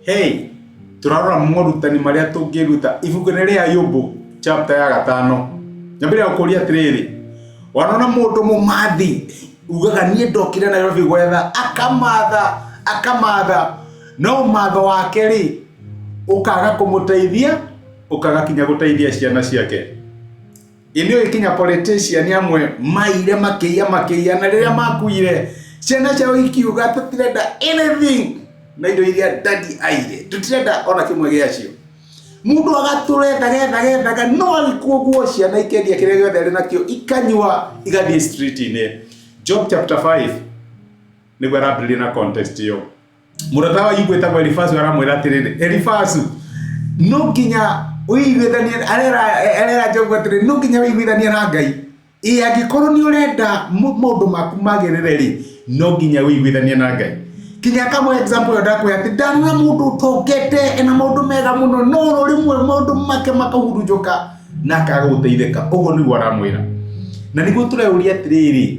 Hey, turarora morutani marĩa tũngĩruta ibuku-inĩ rĩa Ayubu chapter ya gatano. Nyambĩrĩria gũkũria atĩrĩrĩ, wanona mũndũ mũmathi ugaga niĩ ndokire Nairobi gwetha, akamatha akamatha, no matho wake rĩ ũkaga kũmũteithia, ũkaga kinya gũteithia ciana ciake. inä å ikinya politician amwe maire makĩiya makĩiya na rĩrĩa makuire ciana ciao ikiuga tũtirenda anything na indo iria dadi aire tũtirenda ona kĩmwe gĩacio mũndũ agatũrethaga ethaga ethaga no agĩkuo guo ciana ikendia kĩrĩa gĩothe arĩ nakĩo ikanyua igathiĩ street-inĩ job chapter 5 nĩguo arambĩrĩria na context ĩyo mũrata wa igwe tagwo Elifazu aramwĩra atĩrĩrĩ Elifazu no nginya ũiguithanie arera Jobu atĩrĩ no nginya ũiguithanie na Ngai ĩ angĩkorwo nĩ ũrenda maũndũ maku magĩrĩre rĩ no nginya ũiguithanie na Ngai kinya kamwe example ndakwä atä ndana må ndå tokete na må ndå mega må no no rä mwe må ndå make makahurunjå ka na akaga gå teithä ka å guo nä guo aramwä ra na nä guo tå reå ria atä rä rä